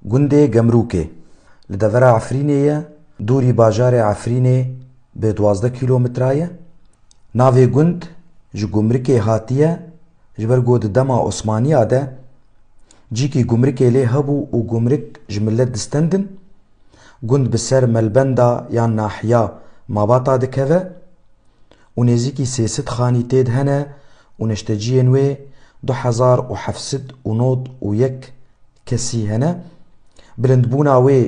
Gundê Gemrûkê li devera Efrînê ye, dûrî bajarê Efrînê bi duwazdeh kîlometre ye. Navê gund ji gumrikê hatiye ji ber ku di dema Osmaniya de cîkî gumrikê lê hebû û gumrik ji milet distendin. Gund bi ser melbenda yan nahiya Mabata dikeve. û nêzîkî sê sed xanî têd hene û neşteciyên wê du hezar û heft sed û nod û yek kesî hene. Bilindbûna wê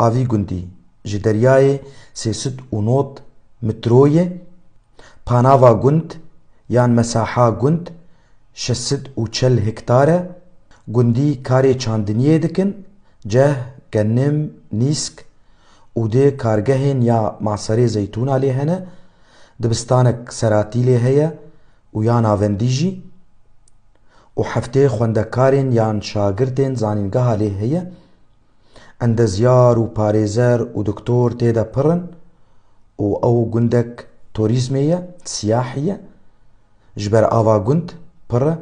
a vî gundî ji deryayê sê sed û nod mitro ye. Panava gund yan mesaha gund şeş sed û çel hektar e. Gundî karê çandiniyê dikin, ceh, genim, nîsk, û dê kargehên ya Maserê Zeytûna lê hene, dibistanek seratî lê heye û ya navendî jî û heftê xwendekarên yan şagirtên zanîngeha lê heye. Endezyar û parêzer û doktor tê de pir in û ew gundek torîzmê ye, siyahî ye. Ji ber ava gund pir e.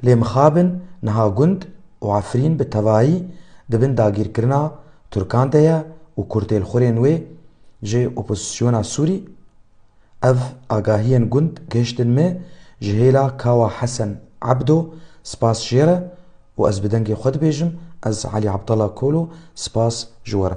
Lê mixabin niha gund û Efrîn bi tevayî di bin dagîrkirina Tirkan de ye û kurtêlxurên wê ji opozîsyona Sûrî Ev agahiyên gund gihiştin min ji hêla Kawa Hesen Ebdo spas jê re û ez bi dengê xwe dibêjim ez Elî Abdallah Kolo spas ji we re